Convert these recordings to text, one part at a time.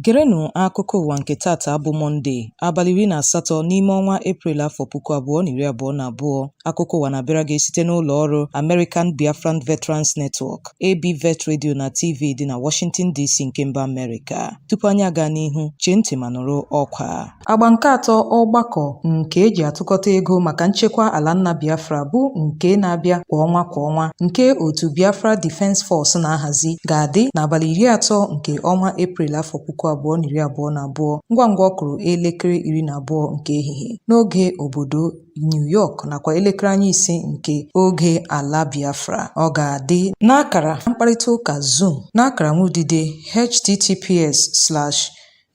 Gerenụ akụkọ ụwa nke taata bụ Mọnde, abalị iri na asatọ n'ime ọnwa Eprel afọ puku abụọ na iri abụọ na abụọ. Akụkọ ụwa na-abịara gị site n'ụlọ ọrụ American Biafran Veterans Network, ABVET Radio na TV dị na Washington DC nke mba Amerịka. Tupu anyị aga n'ihu, chee ntị ma nụrụ ọkwa. Agba nke atọ ọgbakọ nke e ji atụkọta ego maka nchekwa ala nna Biafra bụ nke na-abịa kwa ọnwa kwa ọnwa nke otu Biafra Defence Force na-ahazi ga-adị n'abalị iri atọ nke ọnwa Eprel afọ puku abụọ na iri abụọ na abụọ ngwa ngwa ọ kụrụ elekere iri na abụọ nke ehihie n'oge obodo New York nakwa elekere anya ise nke oge ala Biafra ọ ga-adị n'akara mkparịta ụka Zoom n'akara nwudide https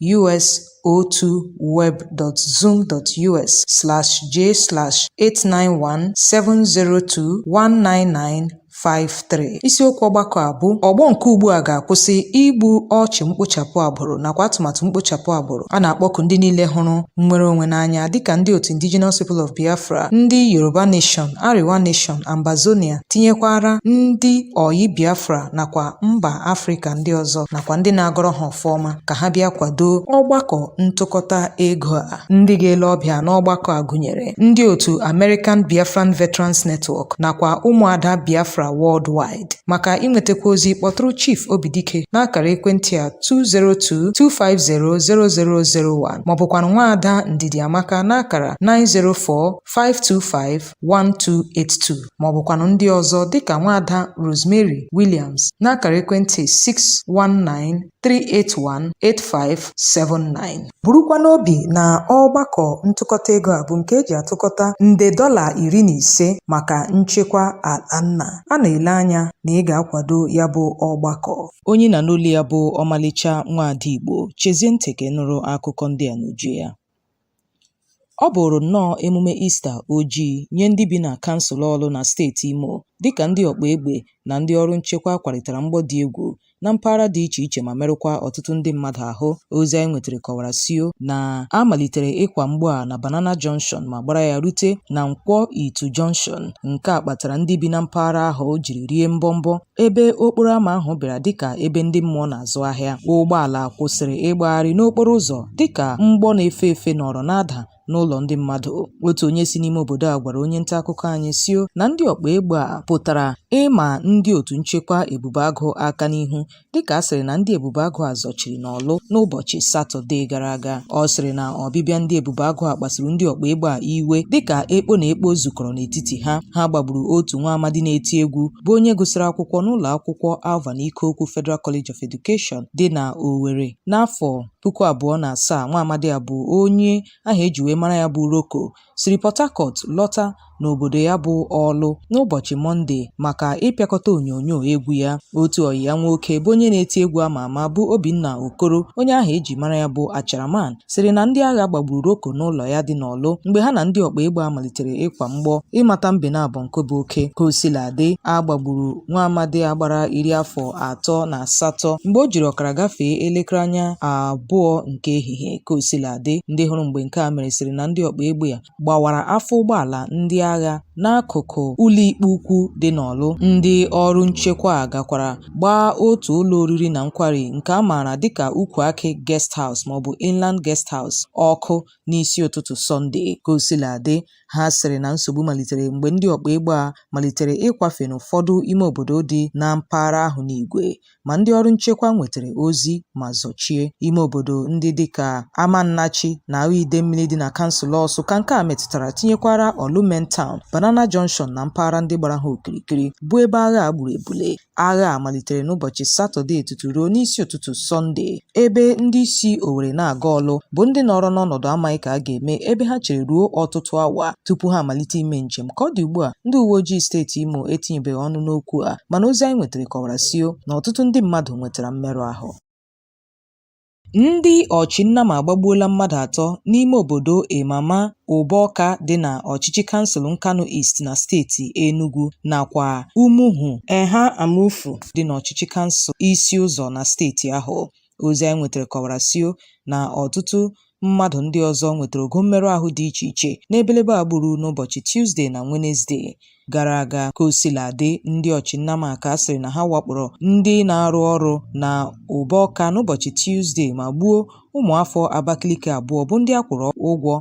us02web.zoom.us/j/891702199 53 isiokwu ọgbakọ a bụ ọgbọ nke ugbu a ga-akwụsị igbu ọchụ mkpochapụ agbụrụ nakwa atụmatụ mkpochapụ agbụrụ a na-akpọku ndị niile hụrụ nnwere onwe n'anya dịka ndị otu Indigenous People of Biafra ndị Yoruba Nation Arewa Nation Ambazonia tinyekwara ndị ọyị Biafra nakwa mba Afrịka ndị ọzọ nakwa ndị na-agọrọ ha ọfọ ọma ka ha bịa kwado ọgbakọ ntụkọta ego a ndị ga-ele ọbịa n'ọgbakọ a gụnyere ndị otu American Biafran Veterans Network nakwa ụmụada Biafra worldwide maka inwetakwa ozi kpọtụrụ Chief Obidike n'akara ekwentị a 202-250-0001 maọbụkwanụ nwaada Ndidiamaka n'akara 904-525 1282 ma ọ bụkwanụ ndị ọzọ dịka nwaada Rosemary Williams n'akara ekwentị 619-381-8579 burukwa n'obi na ọgbakọ ntụkọta ego a bụ nke e ji atụkọta nde dọla iri na ise maka nchekwa ala nna a na-ele anya na ị ga-akwado ya bụ ọgbakọ onye ị na-anụ olu ya bụ ọmalịcha nwaada Igbo chezie ntị ka ị nụrụ akụkọ ndị a n'uju ya Ọ bụụrụ nnọọ emume Ista ojii nye ndị bi na kansụl Ọlụ na steeti Imo dịka ndị ọkpa egbe na ndị ọrụ nchekwa kwarịtara mgbọ dị egwu na mpaghara dị iche iche ma merụkwa ọtụtụ ndị mmadụ ahụ. Ozi anyị nwetara kọwara sị na a malitere ịkwa mgbọ a na Banana Junction ma gbara ya rute na Nkwọ Ito Junction. Nke a kpatara ndị bi na mpaghara ahụ jiri rie mbọmbọ ebe okporo ama ahụ bịara dịka ebe ndị mmụọ na-azụ ahịa ụgbọala kwụsịrị ịgbagharị n'okporo ụzọ dịka mgbọ na-efe efe nọrọ na-ada n'ụlọ ndị mmadụ otu onye si n'ime obodo a gwara onye nta akụkọ anyị sio na ndị ọkpa egbe a pụtara ịma ndị otu nchekwa ebube agụ aka n'ihu dịka a sịrị na ndị ebube agụ a zọchiri n'Ọlụ n'ụbọchị satọde gara aga ọ sịrị na ọbịbịa ndị ebube agụ a kpasuru ndị ọkpa egbe a iwe dịka ekpo na ekpo zukọrọ n'etiti ha ha gbagburu otu nwa amadi na-eti egwu bụ onye gụsịrị akwụkwọ n'ụlọ akwụkwọ Alvan Ikoku Federal College of Education dị na Owerri n'afọ puku abụọ na asaa nwa amadi a bụ onye aha eji wee mara ya bụ Roko siri Port Harcourt lọta n'obodo ya bụ Ọlụ n'ụbọchị Mọnde maka ịpịakọta onyonyo egwu ya otu ọyị ya nwoke bụ onye na-eti egwu ama ama bụ Obinna Okoro onye aha eji mara ya bụ Acharaman sịrị na ndị agha gbagburu Roko n'ụlọ ya dị n'Ọlụ mgbe ha na ndị ọkpa egbe a malitere ịkwa mgbọ ịmata mbe naabọ nke bụ oke ka osiladị a gbagburu nwa amadi a gbara iri afọ atọ na asatọ mgbe o jiri ọkara gafee elekere anya abụọ nke ehihie ka osiladị ndị hụrụ mgbe nke a mere sịrị na ndị ọkpa egbe ya gbawara afọ ụgbọala ndị agha n'akụkụ ụlọikpe ukwu dị n'Ọlụ. Ndị ọrụ nchekwa a gakwara gbaa otu ụlọ oriri na nkwari nke a maara dịka Ukwu Akị Guest House maọbụ Inland Guest House ọkụ n'isi ụtụtụ Sọnde. Kosiladị, ha sịrị na nsogbu malitere mgbe ndị ọkpa egbe a malitere ịkwafe n'ụfọdụ ime obodo dị na mpaghara ahụ n'igwe ma ndị ọrụ nchekwa nwetara ozi ma zọchie ime obodo ndị dịka Amannachi na Awo Idemmili dị na kansụl Ọsụ ka nke a metụtara tinyekwara Ọlụ main town, Banana Junction na mpaghara ndị gbara ha okirikiri bụ ebe agha a gburu ebule. Agha a malitere n'ụbọchị Satọde tutu ruo n'isi ụtụtụ Sọnde ebe ndị si Owerri na-aga Ọlụ bụ ndị nọrọ n'ọnọdụ amaghị ka a ga-eme ebe ha chere ruo ọtụtụ awa tupu ha amalite ime njem ka ọ dị ugbu a ndị uwe ojii steeti Imo etinyebeghị ọnụ n'okwu a mana ozi anyị nwetara kọwara sio na ọtụtụ ndị mmadụ nwetara mmerụ ahụ Ndị ọchị nnama agbagbuola mmadụ atọ n'ime obodo Imeama Ugbawka dị na ọchịchị kansụl Nkanu East na steeti Enugu nakwa Umuhu Eha Amufu dị n'ọchịchị kansụl Isi Ụzọ na steeti ahụ. Ozi anyị nwetara kọwara sio na ọtụtụ mmadụ ndị ọzọ nwetara ogo mmerụ ahụ dị iche iche n'ebelebe a gburu n'ụbọchị Tuzde na Wenezde. gara aga ka o sila dị ndị ọchị nnama ka a sịrị na ha wakporo ndị na-arụ ọrụ na Ugbawka n'ụbọchị Tuzde ma gbuo ụmụafọ Abakaliki abụọ bụ ndị a kwụrụ ụgwọ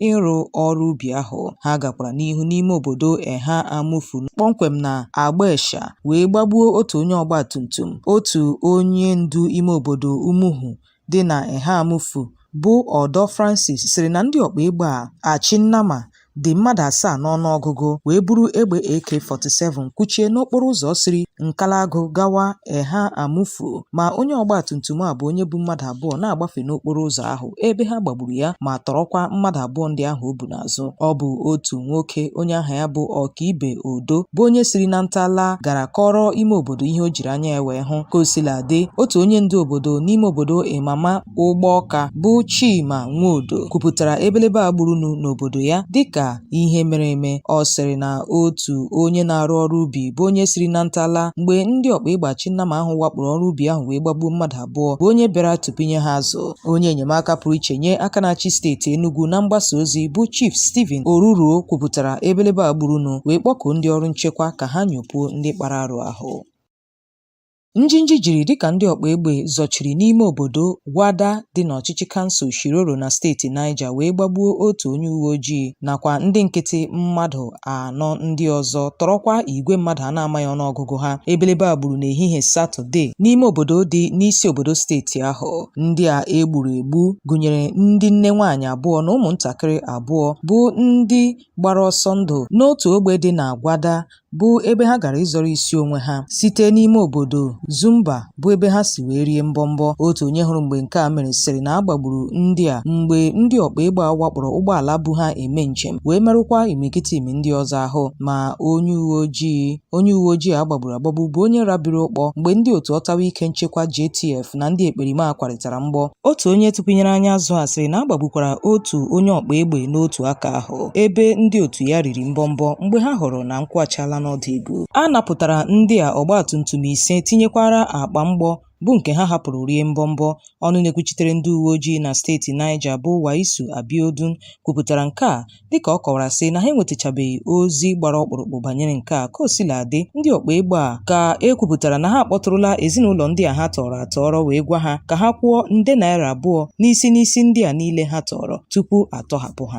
ịrụ ọrụ ubi ahụ ha gakwara n'ihu n'ime obodo Eha Amufu kpọmkwem na Agbaesha wee gbagbuo otu onye ọgbatumtum otu onye ndu ime obodo Umuhu dị na Eha Amufu bụ Odo Francis sịrị na ndị ọkpa egbe a achị nnama dị mmadụ asaa n'ọnụọgụgụ wee buru egbe AK-47 kwụchie n'okporo ụzọ siri Nkalagụ gawa Eha Amufu ma onye ọgbatumtum a bụ onye bu mmadụ abụọ na-agbafe n'okporo ụzọ ahụ ebe ha gbagburu ya ma tọrọkwa mmadụ abụọ ndị ahụ o bu na azụ ọ bụ otu nwoke onye aha ya bụ ọkaibe odo bụ onye siri na nta laa gara kọrọ ime obodo ihe o jiri anya ya wee hụ ka o sila dị otu onye ndu obodo n'ime obodo imama ugbawka bụ chima nwodo kwupụtara ebelebe a gburunụ n'obodo ya dịka ihe mere eme ọ sịrị na otu onye na-arụ ọrụ ubi bụ onye siri na nta laa mgbe ndị ọkpa egbe achị nnama ahụ wakporo ọrụ ubi ahụ wee gbagbuo mmadụ abụọ bụ onye bịara tụpụnye ha azụ onye enyemaka pụrụ iche nye aka na-achị steeti Enugu na mgbasa ozi bụ Chief Stephen Oruruo kwupụtara ebelebe a gburunụ wee kpọkuo ndị ọrụ nchekwa ka ha nyopuo ndị kpara arụ ahụ Njinji jiri dịka ndị ọkpa egbe zọchiri n'ime obodo Gwada dị n'ọchịchị kansụl Shiroro na steeti Niger wee gbagbuo otu onye uwe ojii nakwa ndị nkịtị mmadụ anọ ndị ọzọ tọrọkwa igwe mmadụ a na-amaghị ọnụọgụgụ ha ebelebe a gburu n'ehihie satọde n'ime obodo dị n'isi obodo steeti ahụ ndị a e gburu egbu gụnyere ndị nne nwaanyị abụọ na ụmụntakịrị abụọ bụ ndị gbara ọsọ ndụ n'otu ogbe dị na Gwada bụ ebe ha gara ịzọrọ isi onwe ha site n'ime obodo Zumba bụ ebe ha si wee rie mbọmbọ otu onye hụrụ mgbe nke a mere sịrị na a gbagburu ndị a mgbe ndị ọkpa egbe a wakporo ụgbọala bu ha eme njem wee merụkwa imirikiti ndị ọzọ ahụ ma onye uwe ojii onye uwe ojii a gbagburu agbagbu bụ onye rabiri ụkpọ mgbe ndị otu ọtawa ike nchekwa JTF na ndị ekperima kwarịtara mgbọ otu onye tụpụnyere anyị azụ a sịrị na a gbagbukwara otu onye ọkpa egbe n'otu aka ahụ bụ ebe ndị otu ya riri mbọmbọ mgbe ha hụrụ na nkwụ achala n'ọdụ igu. A napụtara ndị a ọgbatumtum ise tinyekwara akpa mgbọ bụ nke ha hapụrụ rie mbọmbọ. Ọnụ na-ekwuchitere ndị uweojii na steeti Niger bụ Waisu Abiodun kwupụtara nke a dịka ọ kọwara sị na ha enwetachabeghị ozi gbara ọkpụrụkpụ banyere nke a. Kaosiladị, ndị ọkpa egbe a ka e kwupụtara na ha akpọtụrụla ezinụlọ ndị a ha tọọrọ atọọrọ wee gwa ha ka ha kwụọ nde naira abụọ n'isi n'isi ndị a niile ha tọọrọ tupu a tọhapụ ha.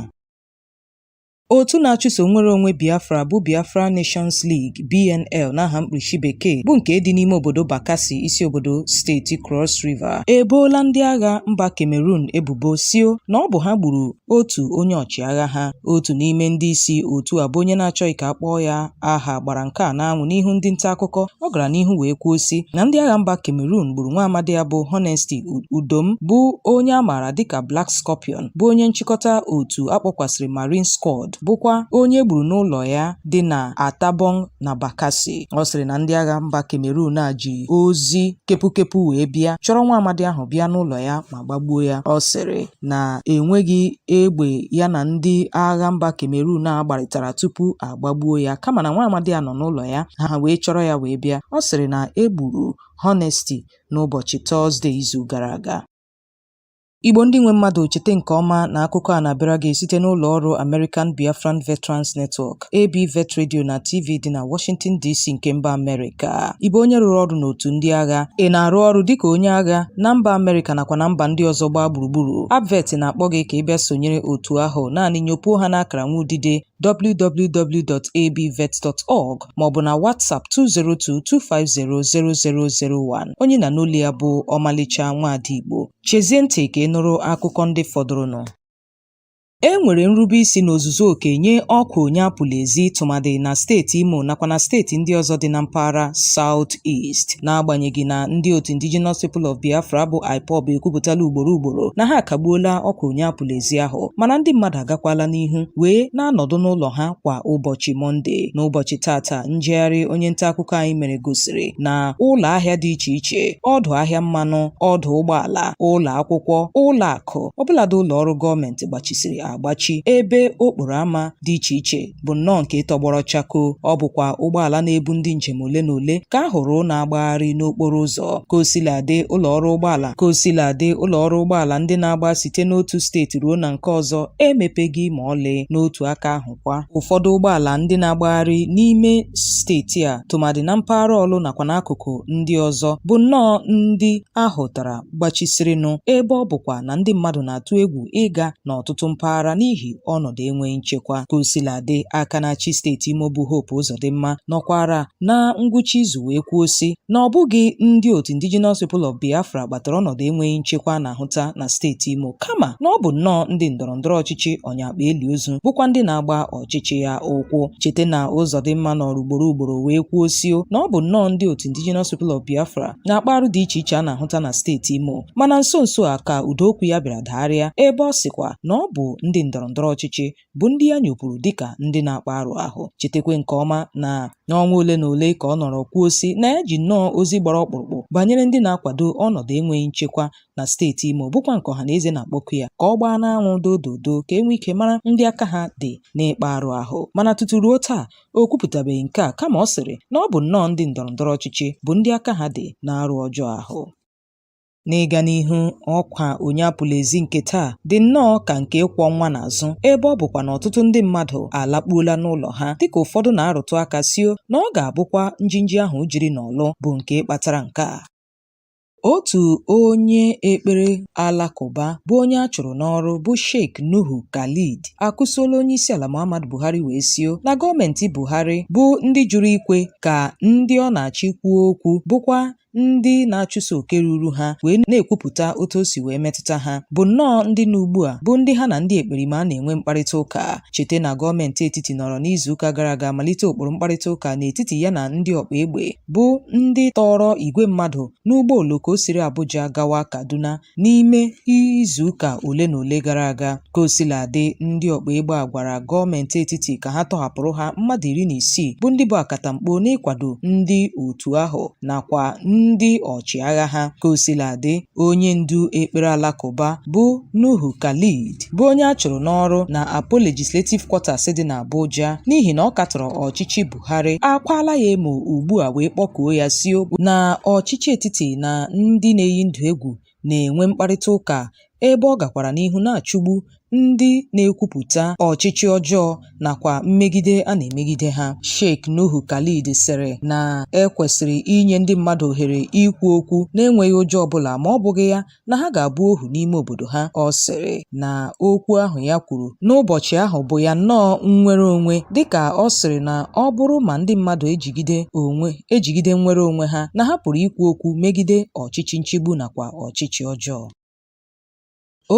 otu na-achụso nnwere onwe biafra bụ biafra nations league bnl n'aha mkpirisi bekee bụ nke dị n'ime obodo bakassi isi obodo steeti cross river eboola ndị agha mba cameroon ebubo si na ọ bụ ha gburu otu onye ọchịagha ha otu n'ime ndị isi otu a bụ onye na-achọghị ka a kpọọ ya aha gbara nke a n'anwụ n'ihu ndị nta akụkọ ọ gara n'ihu wee kwuo si na ndị agha mba cameroon gburu nwa amadi a bụ honesty udom bụ onye a maara dịka black scorpion bụ onye nchịkọta otu a kpọkwasịrị Marine Squad bụkwa onye e gburu n'ụlọ ya dị na Atabong na Bakassi. Ọ sịrị na ndị agha mba Cameroon a ji ozi kepukepu wee bịa chọrọ nwa amadi ahụ bịa n'ụlọ ya ma gbagbuo ya. Ọ sịrị na enweghị egbe ya na ndị agha mba Cameroon a gbarịtara tupu a gbagbuo ya kama na nwa amadi a nọ n'ụlọ ya ha wee chọrọ ya wee bịa. Ọ sịrị na e gburu Honesty n'ụbọchị Tọzde izu gara aga. Igbo ndị nwe mmadụ cheta nke ọma na akụkọ a na-abịara gị site n'ụlọ ọrụ American Biafran Veterans Network, AB Vet Radio na TV dị na Washington DC nke mba Amerịka. Ị bụ onye rụrụ ọrụ n'otu ndị agha? Ị na-arụ ọrụ dịka onye agha na mba Amerịka nakwa na mba ndị ọzọ gba gburugburu? ABVET na-akpọ gị ka ị bịa sonyere otu ahụ naanị nyopuo ha n'akara nwa udide www.abvet.org maọbụ na WhatsApp 202-250-0001. Onye ị na-anụ olu ya bụ Ọmalịcha Nwada Igbo. Chezie ntị ka ị nụrụ akụkọ ndị fọdụrụnụ. E nwere nrube isi n'ozuzu oke nye ọkwa onye apụla ezi tụmadị na steeti Imo nakwa na steeti ndị ọzọ dị na mpaghara South East n'agbanyeghị na ndị otu Indigenous People of Biafra bụ IPOB ekwupụtala ugboro ugboro na ha akagbuola ọkwa onye apụla ezi ahụ mana ndị mmadụ agakwala n'ihu wee na-anọdụ n'ụlọ ha kwa ụbọchị Mọnde n'ụbọchị taata njegharị onye nta akụkọ anyị mere gosiri na ụlọ ahịa dị iche iche ọdụ ahịa mmanụ ọdụ ụgbọala ụlọ akwụkwọ ụlọ akụ ọbụladị ụlọ ọrụ gọọmenti gbachisiri agbachi ebe okporo ámá dị iche iche bụ nnọọ nke tọgbọrọ chakoo ọ bụkwa ụgbọala na-ebu ndị njem ole na ole ka a hụrụ na-agbagharị n'okporo ụzọ ka osiladị ụlọ ọrụ ụgbọala ka osiladị ụlọ ọrụ ụgbọala ndị na-agba site n'otu steeti ruo na nke ọzọ emepeghị ma ọlị n'otu aka ahụ kwa ụfọdụ ụgbọala ndị na-agbagharị n'ime steeti a tụmadị na mpaghara Ọlụ nakwa n'akụkụ ndị ọzọ bụ nnọọ ndị a hụtara gbachisirinụ ebe ọ bụkwa na ndị mmadụ na-atụ egwu ịga n'ọtụtụ mpaghara n'ihi ọnọdụ enweghị nchekwa ka o sila dị aka na-achị steeti Imo bụ Hope Uzodimma nọkwara na ngwụcha izu wee kwuo sị na ọ bụghị ndị otu Indigenous People of Biafra kpatara ọnọdụ enweghị nchekwa a na-ahụta na steeti Imo kama na ọ bụ nnọọ ndị ndọrọ ndọrọ ọchịchị ọ nya akpa eli ozu bụkwa ndị na-agba ọchịchị ya ụkwụ cheta na Uzodimma nọrọ ugboro ugboro wee kwuo sị na ọ bụ nnọọ ndị otu Indigenous People of Biafra na-akpa arụ dị iche iche a na-ahụta na steeti Imo mana nso nso a ka ụda okwu ya bịara dagharịa ebe ọ sịkwa na ọ bụ ndị ndọrọ ndọrọ ọchịchị bụ ndị ya nyopụrụ dịka ndị na-akpa arụ ahụ chetakwa nke ọma na n'ọnwa ole na ole ka ọ nọrọ kwuo sị na ya ji nnọọ ozi gbara ọkpụrụkpụ banyere ndị na-akwado ọnọdụ enweghị nchekwa na steeti Imo bụkwa nke ọha na eze na-akpọku ya ka ọ gbaa n'anwụ dododo ka e nwee ike mara ndị aka ha dị n'ịkpa arụ ahụ mana tutu ruo taa o kwupụtabeghị nke a kama ọ sịrị na ọ bụ nnọọ ndị ndọrọ ndọrọ ọchịchị bụ ndị aka ha dị n'arụ ọjọọ ahụ N'ịga n'ihu, ọkwa onye apụla ezi nke taa dị nnọọ ka nke ịkwọ nwa n'azụ ebe ọ bụkwa na ọtụtụ ndị mmadụ alakpuola n'ụlọ ha dịka ụfọdụ na-arụtụ aka sio na ọ ga-abụkwa njinji ahụ jiri n'Ọlụ bụ nke kpatara nke a. Otu onye ekpere Alakụba bụ onye a chụrụ n'ọrụ bụ Sheikh Nuhu Khalid akụsuola onyeisiala Muhammadu Buhari wee sio na gọọmenti Buhari bụ ndị jụrụ ikwe ka ndị ọ na-achị kwuo okwu bụkwa ndị na-achụso oke ruru ha wee na-ekwupụta otu o si wee metụta ha bụ nnọọ ndị na ugbu a bụ ndị ha na ndị ekperima na-enwe mkparịta ụka Cheta na gọọmenti etiti nọrọ n'izuụka gara aga malite ụkpụrụ mkparịta ụka n'etiti ya na ndị ọkpa egbe bụ ndị tọọrọ igwe mmadụ n'ụgbọ oloko siri Abuja gawa Kaduna n'ime izuụka ole na ole gara aga. Ka o sila dị, ndị ọkpa egbe a gwara gọọmenti etiti ka ha tọhapụrụ ha mmadụ iri na isii bụ ndị bụ akatamkpo n'ịkwado ndị otu ahụ nakwa ndị ọchịagha ha. Ka o sila dị, Onye ndu ekpere Alakụba bụ Nuhu Khalid bụ onye a chụrụ n'ọrụ na Apo Legislative Quarters dị n'Abuja n'ihi na ọ katọrọ ọchịchị Buhari akwaala ya emo ugbu a wee kpọkuo ya si ọ bụ na ọchịchị etiti na ndị na-eyi ndụ egwu na-enwe mkparịta ụka ebe ọ gakwara n'ihu na-achụgbu ndị na-ekwupụta ọchịchị ọjọọ nakwa mmegide a na-emegide ha Sheikh Nuhu Khalid sịrị na e kwesịrị inye ndị mmadụ ohere ikwu okwu na-enweghị ụjọ ọbụla ma ọ bụghị ya na ha ga-abụ ohu n'ime obodo ha ọ sịrị na okwu ahụ ya kwuru n'ụbọchị ahụ bụ ya nnọọ nnwere onwe dịka ọ sịrị na ọ bụrụ ma ndị mmadụ eji ejigide nnwere onwe ha na ha pụrụ ikwu okwu megide ọchịchị nchigbu nakwa ọchịchị ọjọọ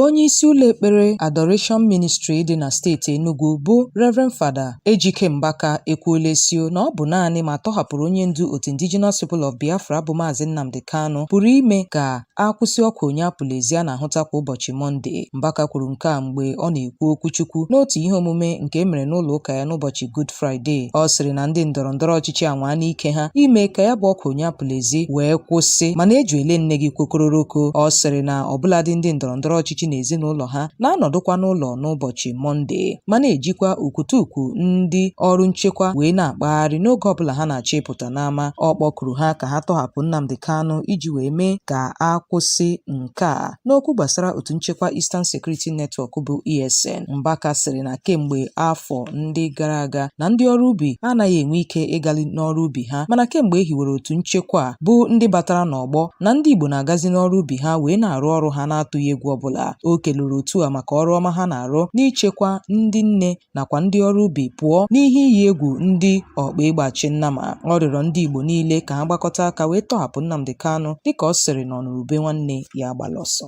Onye isi ụlọ ekpere Adoration Ministry dị na steeti Enugu bụ Rev. Fada Ejike Mbaka ekwuola sio na ọ bụ naanị ma a tọhapụrụ onye ndu otu Indigenous People of Biafra bụ Maazị Nnamdi Kanu pụrụ ime ka a kwụsị oku onye apụla ezi a na-ahụta kwa ụbọchị Mọnde. Mbaka kwuru nke a mgbe ọ na-ekwu kwu okwuchukwu n'otu ihe omume nke e mere n'ụlọ ụka ya n'ụbọchị Good Friday. Ọ sịrị na ndị ndọrọ ndọrọ ọchịchị anwaa n'ike ha ime ka ya bụ oku onye apụla ezi wee kwụsị mana eji ele nne gị kwokororoko. Ọ sịrị na ọbụladị ndị ndọrọ ndọrọ ọchịchị na ezinụlọ ha na-anọdụkwa n'ụlọ n'ụbọchị Mọnde ma na-ejikwa ukwutukwu ndị ọrụ nchekwa wee na-akpagharị n'oge ọbụla ha na-achọ ịpụta n'ama. Ọ kpọkuru ha ka ha tọhapụ Nnamdi Kanu iji wee mee ka a kwụsị nke nke a n'okwu gbasara otu nchekwa Eastern Security Network bụ ESN Mbaka sịrị na kemgbe afọ ndị gara aga na ndị ọrụ ubi anaghị enwe ike ịgali n'ọrụ ubi ha mana kemgbe e hiwere otu nchekwa a bụ ndị batara n'ọgbọ na ndị Igbo na-agazi n'ọrụ ubi ha wee na-arụ ọrụ ha na-atụghị egwu ọbụla o kelere otu a maka ọrụ ọma ha na-arụ n'ichekwa ndị nne nakwa ndị ọrụ ubi pụọ n'ihe iyi egwu ndị ọkpa egbe achị nnama ọ rịọrọ ndị Igbo niile ka ha gbakọta aka wee tọhapụ Nnamdi Kanu dịka ọ sịrị na ọ nụrụ ube nwanne ya agbala ọsọ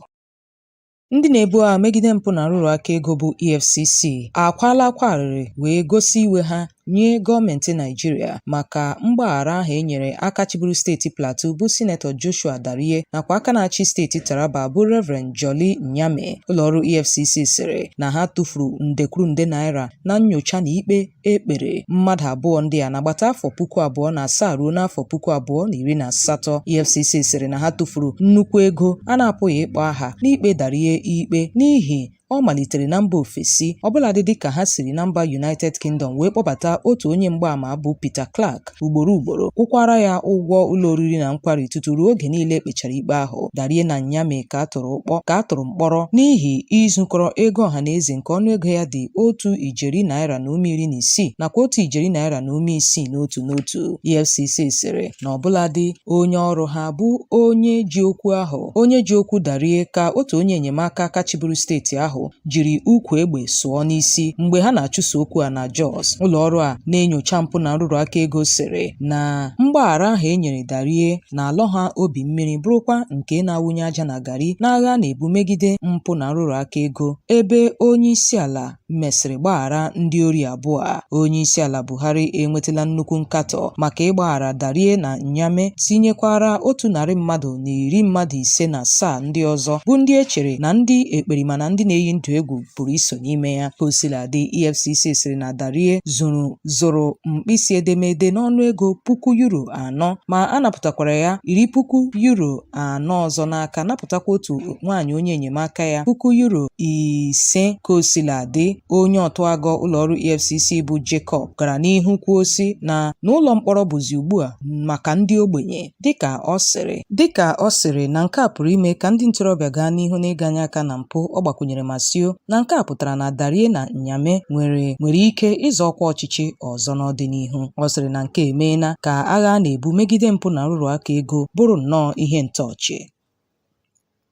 Ndị na-ebu agha megide mpụ na nrụrụ aka ego bụ EFCC akwaala akwa arịrị wee gosi iwe ha nye gọọmentị Naịjirịa maka mgbaghara ahụ e nyere aka chịburu steeti Plateau bụ Sinetọ Joshua Dariye nakwa aka na-achị steeti Taraba bụ Reverend Jolly Nyame, ụlọọrụ EFCC sịrị na ha tụfuru nde kwuru nde naira na nnyocha na ikpe e kpere mmadụ abụọ ndị a n'agbata afọ puku abụọ na asaa ruo n'afọ puku abụọ na iri na asatọ. EFCC sịrị na ha tụfuru nnukwu ego a na-apụghị ịkpọ aha n'ikpe Dariye ikpe n'ihi ọ malitere na mba ofesi ọbụladị dịka ha siri na mba United Kingdom wee kpọbata otu onye mgbaama bụ Peter Clark ugboro ugboro kwụkwara ya ụgwọ ụlọ oriri na nkwari tutu ruo oge niile e kpechara ikpe ahụ Dariye na Nyame ka a tụrụ ụkpọ ka a tụrụ mkpọrọ n'ihi izukọrọ ego ọha na eze nke ọnụego ya dị otu ijeri naira na ụma iri na isii nakwa otu ijeri naira na ụma isii n'otu n'otu EFCC sịrị na ọbụladị onye ọrụ ha bụ onye ji okwu ahụ onye ji okwu Dariye ka otu onye enyemaka aka chịburu steeti ahụ jiri ukwu egbe sụọ n'isi mgbe ha na-achụso okwu a na Jos ụlọọrụ a na-enyocha mpụ na nrụrụ aka ego sịrị na mgbaghara ahụ e nyere Dariye na-alọ ha obi mmiri bụrụkwa nke na-awụnye aja na gari n'agha a na-ebu megide mpụ na nrụrụ aka ego ebe onye isi ala mesịrị gbaghara ndị ori abụọ a onye isi ala bụ Buhari enwetela nnukwu nkatọ maka ịgbaghara Dariye na Nyame tinyekwara otu narị mmadụ na iri mmadụ ise na asaa ndị ọzọ bụ ndị e chere na ndị ekperima na ndị na-eyi ndụ egwu pụrụ iso n'ime ya. Ka o sila dị, EFCC sịrị na Dariye zụrụ zụrụ mkpịsị edemede n'ọnụ ego puku yuro anọ ma a napụtakwara ya iri puku yuro anọ ọzọ n'aka napụtakwa otu nwaanyị onye enyemaka ya puku yuro ise ka o sila dị onye ọtụagọ ụlọọrụ EFCC bụ Jacob gara n'ihu kwuo sị na n'ụlọ mkpọrọ bụzi ugbu a maka ndị ogbenye dịka ọ sịrị dịka ọ sịrị na nke a pụrụ ime ka ndị ntorobịa gaa n'ihu n'ịganye aka na mpụ ọ gbakwunyere ma sị na nke a pụtara na Dariye na Nyame nwere nwere ike ịzọ ọkwa ọchịchị ọzọ n'ọdịnihu ọ sịrị na nke a emeela ka agha a na-ebu megide mpụ na nrụrụ aka ego bụrụ nnọọ ihe ntọ ọchị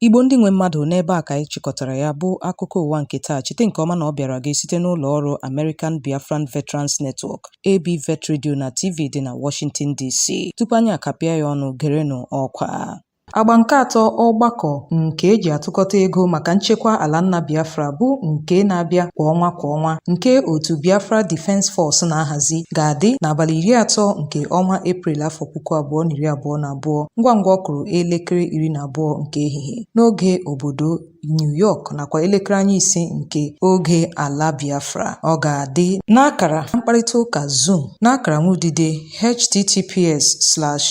Igbo ndị nwe mmadụ n'ebe a ka anyị chịkọtara ya bụ akụkọ ụwa nke taa cheta nke ọma na ọ bịara gị site n'ụlọ ọrụ American Biafran Veterans Network AB Vet Radio na TV dị na Washington DC tupu anyị akapịa ya ọnụ gerenụ ọkwa Agba nke atọ ọgbakọ nke e ji atụkọta ego maka nchekwa ala nna Biafra bụ nke na-abịa kwa ọnwa kwa ọnwa nke otu Biafra Defence Force na-ahazi ga-adị n'abalị iri atọ nke ọnwa Eprel afọ puku abụọ na iri abụọ na abụọ ngwa ngwa ọ kụrụ elekere iri na abụọ nke ehihie n'oge obodo New York nakwa elekere anya ise nke oge ala Biafra ọ ga-adị n'akara mkparịta ụka Zoom n'akara nwudide https slash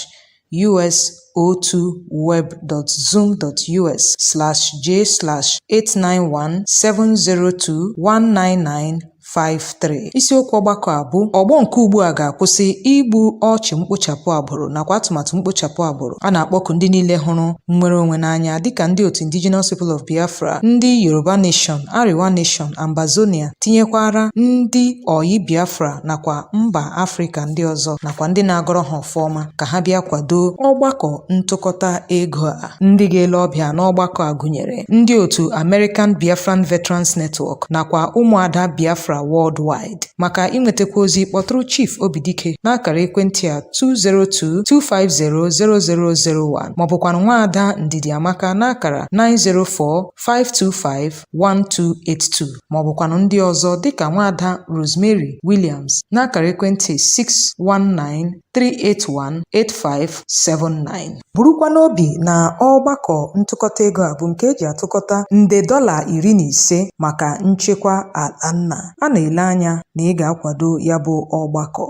us02web.zoom.us/j/891702199 53 isiokwu ọgbakọ a bụ ọgbọ nke ugbu a ga-akwụsị igbu ọchụ mkpochapụ agbụrụ nakwa atụmatụ mkpochapụ agbụrụ a na-akpọku ndị niile hụrụ nnwere onwe n'anya dịka ndị otu Indigenous People of Biafra ndị Yoruba Nation Arewa Nation Ambazonia tinyekwara ndị ọyị Biafra nakwa mba Afrịka ndị ọzọ nakwa ndị na-agọrọ ha ọma ka ha bịa kwado ọgbakọ ntụkọta ego a. Ndị ga-ele ọbịa n'ọgbakọ a gụnyere ndị otu American Biafran Veterans Network nakwa ụmụada Biafra worldwide. Maka inwetakwu ozi kpọtụrụ Chief Obidike n'akara ekwentị a 202-250-0001 ma ọ bụkwanụ nwaada Ndidi Amaka n'akara 904-525 1282 ma ọ bụkwanụ ndị ọzọ dịka nwaada Rosemary Williams n'akara ekwentị 619-381-8579 burukwa n'obi na ọgbakọ ntụkọta ego a bụ nke e ji atụkọta nde dọla iri na ise maka nchekwa ala nna a na-ele anya na ị ga-akwado ya bụ ọgbakọ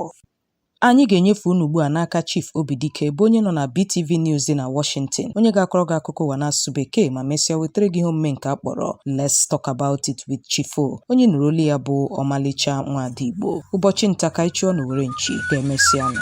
Anyị ga-enyefe unu ugbu a n'aka Chief Obidike bụ onye nọ na BTV News dị na Washington, onye ga-akọrọ gị akụkọ ụwa n'asụsụ Bekee ma mesịa wetara gị ihe omume nke a kpọrọ Let's Talk About It with Chief O, onye nụrụ olu ya bụ ọmalịcha nwaada Igbo. Ụbọchị nta ka anyị chụọ n'owere nchi ka e mesịanụ.